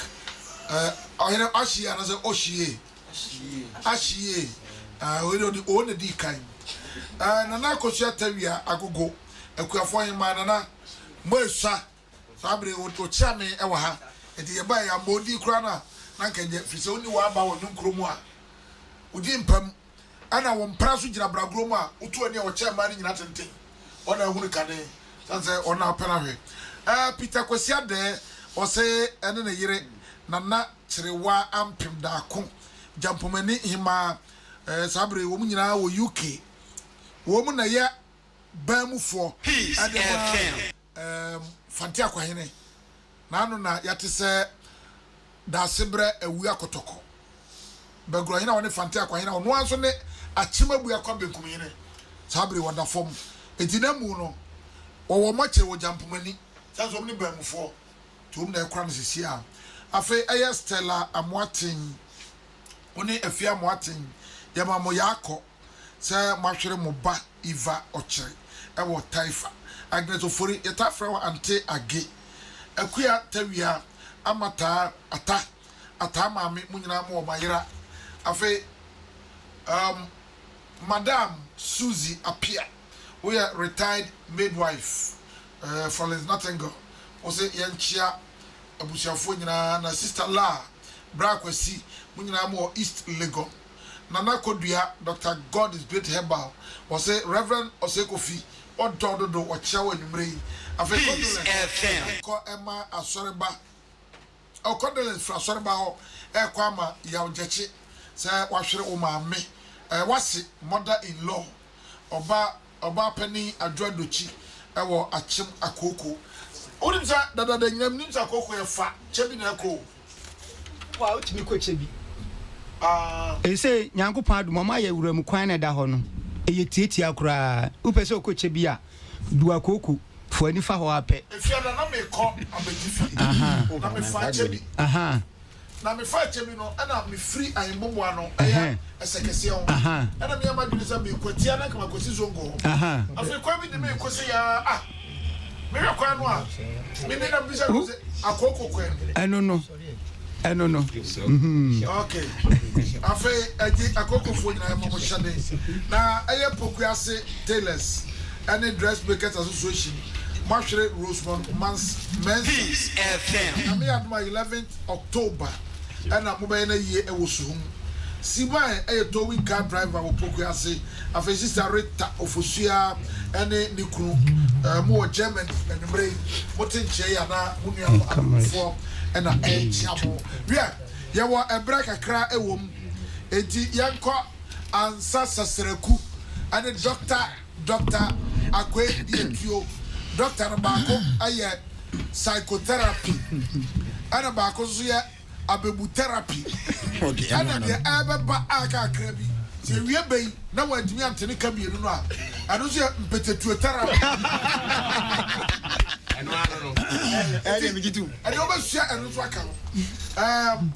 eh ɔyere ahyie anasɛ ɔhyie ahyie eh wei deɛ ɔde oo na ɛdii kan eh Nana Akosua Tawia Agogo Akuafoɔ Hemaa Nana mo ɛsua Saa bere yi okyiaa me wɔ ha, enti yɛbae, yɛammɔ din koraa no a, na anka nya, efisɛ onni w'aba wɔ Nnwom Kurom a wudi mpa mu, ɛnna wo mpena nso gyina bragorɔ mu a wotu ani a wɔkyɛn mmaa no nyinaa tenten, wɔn na ahunu kane, esiane sɛ wɔn na wɔpɛ no ahwɛ. Ɛɛ, Peter Kwasi Adɛɛ, ɔse ɛne ne yere, Nana Kyerewa Ampem Daako, Gyampomani Hemmaa, ɛɛ, saa bere yi wɔn nyinaa wɔ UK. Wɔn na ɛyɛ baa mu foɔ de ma. Eem Fante Akwahene, n'ano na yɛate sɛ Daasebrɛ awu akɔtɔkɔ. Bɛgorɔhene a ɔne Fante Akwahene a ɔno ara nso ne Akyem Abuakwa Benkumhene, saa bere yi ɔda fam. Enti na mmu no, wɔwɔ wɔn akyiri wɔ Gyampomani. Sɛ nso wɔn ne Baamufoɔ, nti wɔn na ɛkora no sesie a. Afei ɛyɛ Stella Amoaten, wo ne Afie Amoaten, yɛma mo yaakɔ. sɛ moahwere mo ba Eva Ɔkyere wɔ Taifa. Agnes Ofori, yɛtaa frɛ wo Ante Age, Akua Tawia, Ama Taa, Ata, Ataa Maame, mo nyinaa mowɔ mo ayera. Afei um, Madam Suzy Apia, woyɛ retired midwife eh, Florence Nottinghel, wo se yɛnkyea abusuafoɔ nyinaa, na Sister Laa, Bra Kwasi, mo nyinaa mowɔ East Legon. Nana Kodua, Doctor God is great herbal, wɔse Rev. Osei Kofi ɔdɔ dodo ɔkyea wo anwumerɛ yi, afei condolence ɛkɔ ɛma asɔreba, oh condolence firi asɔreba hɔ ɛkɔ ama Yaw Gyakye sɛ wahwere wo maame, ɛɛ wase mother in law, ɔba. Ɔbaapanin Adwo Adokyi wɔ Akyem Akooko. Wonim sɛ dadaada nyinaa menim sɛ Akooko yɛ fa, kyɛ bi na ɛkɔ o. Kɔ a wotumi kɔ kyɛ bi aa. Ɛsei Nyankopɔn adom wɔn ayɛ wuram kwan na ɛda hɔ no ɛyɛ tiatia koraa. Wopɛ sɛ wokɔ kyɛ bi a du Akooko fua nifa hɔ ara pɛ. Ɛfie ada na mekɔ abɛgye fie na mefa kyɛ bi. Na me faa kyɛ bi no ɛna me firi Ahinbobo ano ɛyɛ Ɛsɛkɛseɛ ho ɛna me yɛ m'adwene sɛ me kɔ atia na nka ma kɔsi Zongo hɔ afei kwan bi de me kɔ sɛ yaa ah me hwɛ kwan no a me ne na me bisa no sɛ akooko kwan bi ɛno no ɛno no mhm. ok afei ɛgye akokofoɔ nyinaa ɛma mo hyɛde na ɛyɛ poku ase tailors ɛne dressmakers association Moahwere Rosemont Mans Mensah. Nyame adom a eleventh October na mobɛyɛ no ayie wɔ Suhum. Sibae yɛ towing car driver wɔ Pokue ase. Afei Sister Rita Ofosua ne ne kunu mo wɔ Germany. Anwumerɛ yi mote nkyɛn yi anaa mo nua mo adɔfoɔ na ɛrekyea mo. Wiɛ, yɛwɔ ɛberɛ kakra wɔ mu enti yɛnkɔ ansa Sasraku ne Doctor. Dɔkta Akwe Yɛtuo. Dɔkta no baako yɛ Psychotherapy ɛna baako nso yɛ Abebu Therapy. Ɛna deɛ ɛbɛba a kakra bi sɛ ɛwie bɛ yi na wantumi ante ne ka mmienu no a, ɛno nso yɛ Mpetetuo Therapy. Ɛno ano no. Ɛdeɛ megye tom. Ɛdeɛ wobɛsua ɛno nso aka ho. Ɛɛm,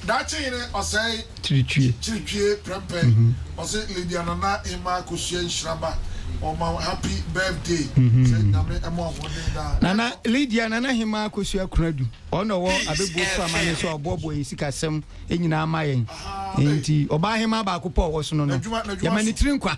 Daakye Hene Ɔsɛe. Kiritwie. Kiritwie prɛmpɛn ɔse Lydia Nana Emma Kosua nhyira ba ɔma wo happy birthday sɛ Nyame ɛma ɔhoɔden daa. Nana Lydia Nana Hema Kosua Kunadu ɔna ɔwɔ Abɛbuo Frama ne so a ɔboɔboɔ yɛn sika sɛm nyinaa ma yɛn nti ɔbaa hemaa baako pɛ ɔwɔ so no no yɛma ne tiri nkwa.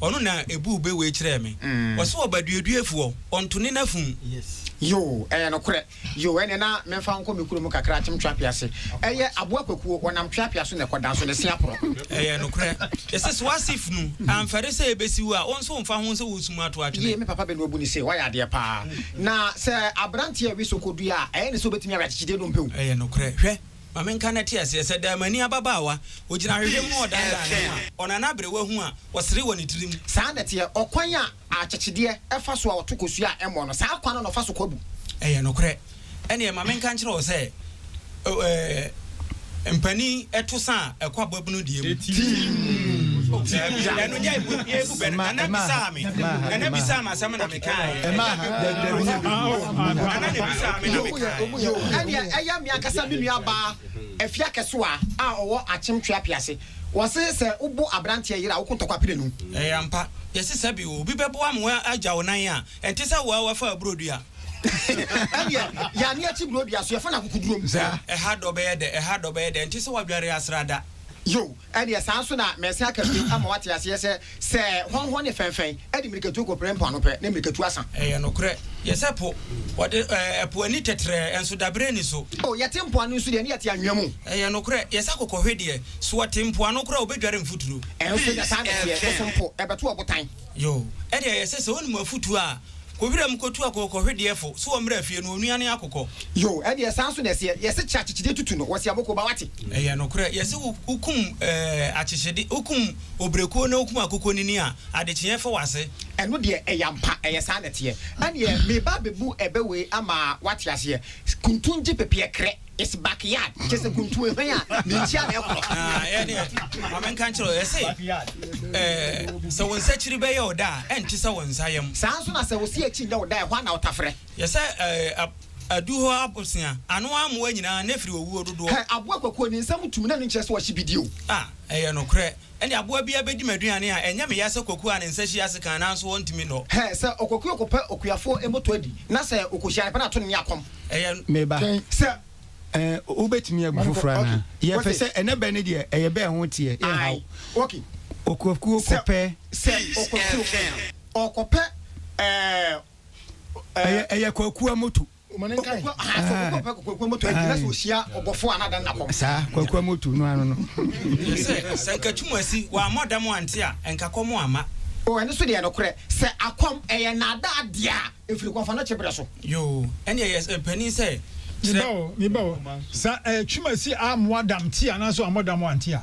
Ɔno na ebuu bɛ wei kyerɛɛ me. Ɔse ɔba duaduafoɔ, ɔnto ne n'afum. Yoo, ɛyɛ nokorɛ. Yoo, ɛneɛ na memfa wo nkɔ me kurom kakra, Akyem Tweapia se. Ɛyɛ aboa kwakuo, wɔnam Tweapia so na ɛkɔ, nanso ne se aporɔ. Ɛyɛ nokorɛ. Yɛse so ase funu, amfɛre sɛ ɛbɛsi wo a, wo nso mfa ho sɛ wosum ato atwene. Yie, me papa bɛ no abu no se, woayɛ adeɛ paa. Na sɛ aberanteɛ we so kɔdua a, ɛyɛ ne sɛ ɔbɛtumi awe akyekyedeɛ dompe o. Ɛyɛ nokorɛ. Hwɛ, Ma menka n'ateaseɛ sɛ Daamani ababaawa, Ɔgyina ahwehwɛ mu a ɔdanedane ne ho a, Ɔnane aberewa hu a ɔsere wɔ ne tirim. Saa na ɛteɛ, ɔkwan a akyekyedeɛ fa so a ɔto kosua a ɛmmɔ no, saa kwan no na ɔfa so kɔ abu. Ɛyɛ nokorɛ. Ɛnneɛ ma menka nkyerɛ wo sɛ, O ɛɛ, mpanin to sa a ɛkɔ ababunu deɛ mu. Timm. Ɛno nyɛ, ɛbu bɛ no. Nana bisaa me, Nana bisaa me asɛm na me. ɛyɛ me ankasa me nua baa afi akɛsoa a ɔwɔ akyem twea piase wɔse sɛ wobo abranteɛ yere a woko ntɔkwa pire no. Ɛyɛ ampa yɛse sɛ bi obi bɛboa mo agya wo nan a ɛnte sɛ woa wafa aburo dua. Ɛneɛ yane akyi buro dua so yɛfa no akokodurom. Ɛha dɔ bɛyɛ dɛ ɛha dɔ bɛyɛ dɛ ɛnte sɛ wadware asrada. Yoo. Ɛdeɛ saa nso na merese aka bio ama woate aseɛ sɛ, sɛ hɔnhɔ ne fɛnfɛn de mmirikatuo kɔpere mpoano pɛ, na mmirikatuo asa. Ɛyɛ nokorɛ. Yɛsɛ po. Wɔde ɛpo ani tɛtrɛɛ, nso dabere nni so. O yɛte mpoano nso deɛ, ne yɛte anwea mu. Ɛyɛ nokorɛ. Yɛsɛ kɔkɔhwe deɛ, so ɔte mpoano koraa a, ɔbɛdware mfuturo. Nso ɛnyɛ saa na ɛteɛ, bosom mpo, ɛbɛto ɔbotan. Yoo, ɛdeɛ yɛsɛ sɛ wonim afutuo a. Kɔ wiram kɔtu akookɔ hwedeɛfo so wɔ mmra fie no onua ne akokɔ. Yoo ɛdeɛ saa nso na ɛseɛ yɛse kye akyekyedeɛ tutu no wɔse abɔkuo ba wate. Ɛyɛ nokorɛ yɛse wo wo kum ɛɛ akyekyede wo kum obrekuo na wo kum akokɔ nini a adekyeɛ fa wase. Ɛno deɛ ɛyɛ ampa ɛyɛ saa na ɛteɛ ɛneɛ meba abɛbu ɛbɛ wei ama wate aseɛ kuntun gye pepeɛ krɛ. It's back yard kyerɛ sɛ kuntu hwan a ne nkyia na ɛkorɔ. Ah, ɛne ma menka nkyerɛ wo ɛse ɛɛ sɛ wo nsakyiri bɛyɛ wo da a ɛnte sɛ wo nsa yam. Saa nso na sɛ wo se akyi nyɛ wo da a ɛhɔ a na wotafrɛ. Yɛ sɛ ɛɛ adu hɔ abosea ano amoa nyinaa na ɛfiri owuo dodoɔ. Hɛ aboa kwakuo ne nsam tumi na ɛno nkyerɛ sɛ wahye bidie o. Ah, ɛyɛ nokorɛ. Ɛnde aboa biara bɛdi m'aduane a ɛnyɛ me ya sɛ kwakuo a ne nsa hyia ase kann nanso ɔntumi nnɔ. Hɛ, sɛ ɔkwakuo kɔpɛ okuafoɔ mmɔtɔ adi, na sɛ ɔkɔhyia no pɛ na ato no ne akɔm. Ɛyɛ. Me ba, sɛ ɛɛ wobɛtumi agu foforɔ anaa? Yɛ fɛ sɛ ɛnɛ bɛ no deɛ ɛyɛ bɛ ho teɛ, yɛ nhaw. Ɔkwakuo kɔpɛ. Sɛ ɔkwakuo ɔkɔpɛ ɛɛ. Ɛyɛ, ɛyɛ kwakuo amoto. saa kwakua motu no ano no sɛ sɛ nka tum asi wammɔ dam ante a nka kɔm amma o ɛno so deɛ nokorɛ sɛ akɔm ɛyɛ nnaada adeɛ a ɛfiri kɔmfa no kye berɛ so yoo ɛne ɛyɛ panin sɛ kyerɛ meba o meba o sɛ ɛɛ tum asi ammoa dam te anaasɛ wammɔ dam ante a.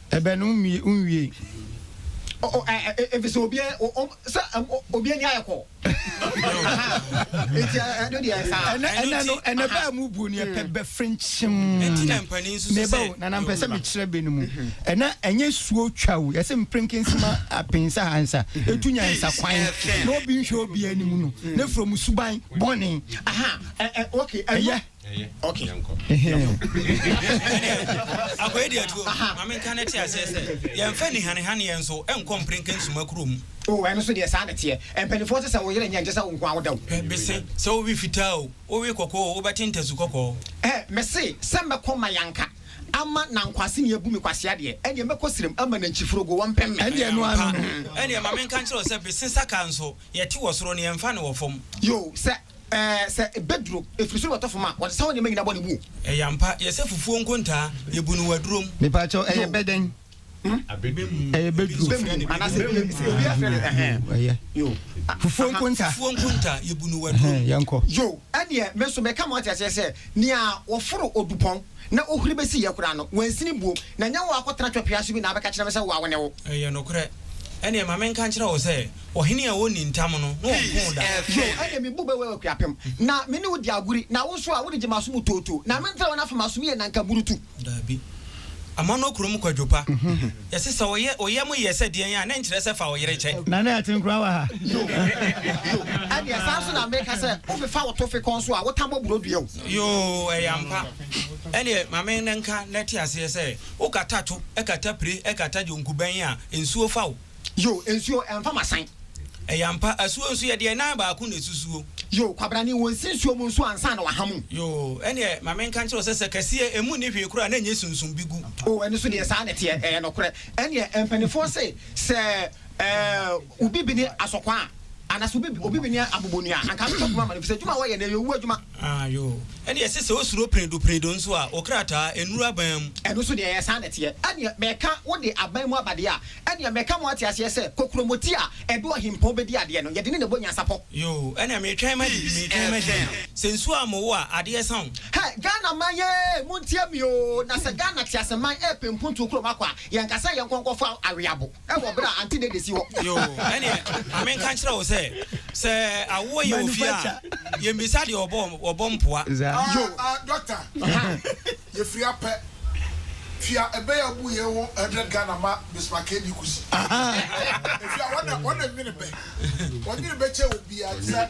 Ɛbɛ no nwiei efisɛ obi sɛ obi ani ayɛ kɔ eti ɛno deɛ saa ɛnɛ ɛnɛ no ɛnɛ bɛ a mu bu ni ɛpɛ bɛ frinkyim ne ba o nana mpɛ sɛ mi kyerɛ bɛ no mu ɛnɛ ɛnyɛ suo twa o yɛsɛ mprinkensima apinsa hansa etu nya nsa kwan na obi nhwɛ obi anim no ne furo mu suban bɔne ɛyɛ. Okay. akwai deɛ tuo ma menka no te aseɛ sɛ yɛmfa nihanihaneɛ nso ɛnkɔ mperenka nsuma kuro mu oh, ɛno so deɛ saa ne teɛ mpanimfoɔ sɛ sɛ wo yerɛ nyɛ nkyɛ sɛ wo nko a woda wo bese sɛ wowe fitaa o wowe kɔkɔɔ o wobɛte ntasu kɔkɔɔ eh, mese sɛ mɛkɔ ma yanka ama na nkwase ne abu me kwasea deɛ ɛneɛ mɛkɔ serem ama na nkyiforogo wɔmpem me ɛneɛ no ano ɛneɛ ma menka nkyerɛ sɛ bese saka nso yɛte wɔ soro ne yɛmfa ne wɔ fam yo sɛ Ɛɛ, sɛ ebeduro, efiri soro bɛtɔ fam a, wɔde saw nneɛma nyinaa bɔ ne buo. Ɛyɛ ampa, yɛsɛ fufuo nkontaa, yɛbu no wɔ aduro mu. Mepakyɛw, ɛyɛ bɛdɛn? Ɛyɛ bɛduro. Bɛ mu, anaasɛ bɛ mu, sɛ obiara frɛ no, ɛhɛn. Yoo, ɛyɛ. Yoo. Fufuo nkontaa. Fufuo nkontaa, yɛbu no wɔ aduro mu. Yɛnkɔ. Yoo, ɛdeɛ, me nso meka ma wɔate aseɛ sɛ, nea wɔforo odupɔn na ohuri bɛsi yɛ koraa no, wansini buo, na nyɛ wo a akɔtena twɛpea so bi na abɛka kyerɛ me sɛ wo a wo ne wo. Ɛyɛ nokorɛ. Ɛnneɛ ma menka nkyerɛ wo sɛ, Ɔhene a ɔnni ntam no, na ɔmpoo da. Yo, ɛnde me bo bɛwɛw akuapem, na me ne wo di agori, na wo nso a, wode gye m'aso mu tootoo, na mentra wo na afem aso mu yɛ nnanka burutu. Dabi. Amanɔ kurom kwadwo pa. Yɛse sɛ ɔyɛ, wo yam yɛ sɛ deɛn a, na ɛnkyerɛ sɛ fa wo yere kyɛ. Na na ɛte nkura wɔ ha. Yo, yo, ɛnneɛ saa nso na meka sɛ, wo fefa wo tofe kɔn so a, wo ta bɔ buro dua o. Yo, ɛyɛ ampa. Ɛnneɛ ma me nka na te aseɛ sɛ, wo kata to, kata pire, kata dwonku bɛn a, nsuo fa wo. Yo, nsuo ɛmfa masan. Ɛyɛ ampa, asuo nso yɛdeɛ nan baako na ɛsusuo. Yo, kwabrane wɔ nsi nsuo mu nso ansa na waha mu. Yo, ɛneɛ ma me nka nkyerɛ wo sɛ sɛ kɛseɛ ɛmu nni hwee koraa a na ɛnyɛ sunsum bi gu. Oh, ɛno nso deɛ saa na ɛteɛ, ɛyɛ nokorɛ. Ɛneɛ mpanifoɔ se sɛ, eh, obi bini asɔkwa a. Anaasɛ obi obi bɛnya abobonua a, anka abɛtɔ poma ama no, efisɛ adwuma a wɔyɛ no, ɛyɛ owu adwuma. Ah, yoo. Ɛnde ɛsɛ sɛ osuro peredoperedo nso a, wo krataa, ennuru aban mu. Ɛno nso deɛ, ɛyɛ saa na ɛteɛ. Ɛnneɛ, mɛka, wode aban mu aba deɛ a, ɛnneɛ mɛka ma woate aseɛ sɛ, kokuromoti a ɛde ɔhempɔn bɛdi adeɛ no, yɛde ne na bɔ nyansapɔ. Yoo, ɛnna meretwɛn ma biribi, meretwɛn ma biribi. Sɛ nsuo ammo wo a, adeɛ sa wo. Hɛ, Ghana man yee, montie me oo, na sɛ Ghana teaseman repempontuo kurom akɔ a, yɛnka sɛ yɛnkɔ nkɔfa aweabo. wɔ berɛ a Aunty Dede si hɔ. Yoo, ɛneɛ ma me nka nkyerɛ wo sɛ, sɛ awoɔ yɛ wɔ fie a, yɛ mmisa deɛ ɔbɔ, ɔbɔ mpoa. Yoo. Ah ah doctor, yɛ firi apɛ, fia ɛbɛyɛ abu yɛn ho hundred Ghana ma Bismarck KD Kusi. Ɛfia wɔn na, wɔn na nwene bɛ, wɔn nwene bɛ kyɛ obiara, te sɛ.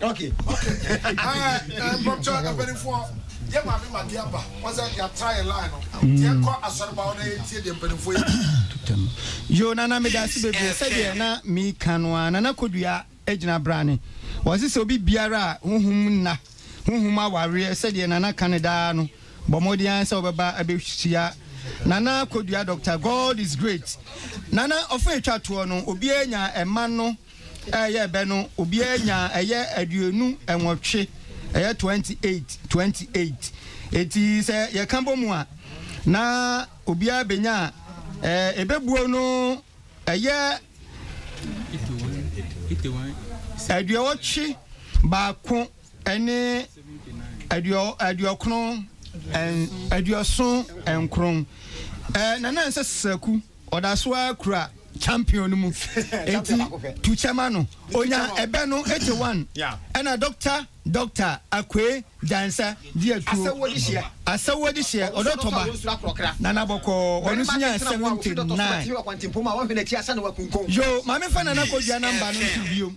Ok ok ɛɛ mpɔtɔ mpanyinfoɔ yɛ maame ma deɛ ba wɔsɛ yɛ atra yɛ line no deɛ kɔ asɔre ba wɔn yɛ tie deɛ mpanyinfoɔ yɛ tutam yoo nana mi daasi bebree sɛ deɛ na mi ka no a nana kodua egyina brane wɔsi sɛ obi biara a huhum nna huhum awareɛ sɛ deɛ nana ka ne daa no bɔ mɔden ara sɛ wɔbɛba abɛhyia nana kodua doctor God is great nana ɔfɛ etwa toɔ no obiara nya ɛma no. Ɛyɛ bɛ no, obiara nyaa ɛyɛ aduonu nwɔtwe, ɛyɛ 28, 28. Enti sɛ yɛka bom a, na obiara benya a ebebuo no ɛyɛ aduɔwɔtwe baako ne aduɔkron, aduɔson nkron. Nana Nsa Saku. Ɔda so ara kura champion no mu nti tu kyɛ ma no. Ɔnya ɛbɛ no gye one ɛna Doctor Doctor Akue Gyansah di atuo. Asɛwoɔ de hyeɛ ɔdɔ tɔ ba Nana bɔkɔɔ ɔno nso nyaa seventy nine. Yoo, Maame fa Nana Kwadwo a number no nto biom.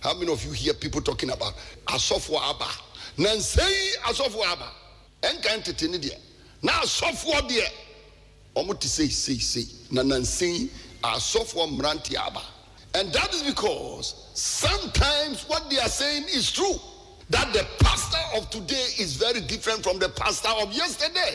How many of you hear people talking about asɔfoɔ aba nansa yi asɔfoɔ aba ɛnkan tete ne deɛ na asɔfoɔ deɛ wɔn te sei sei sei na nansa yi asɔfoɔ mmeranteɛ aba and that is because sometimes what they are saying is true that the pastor of today is very different from the pastor of yesterday.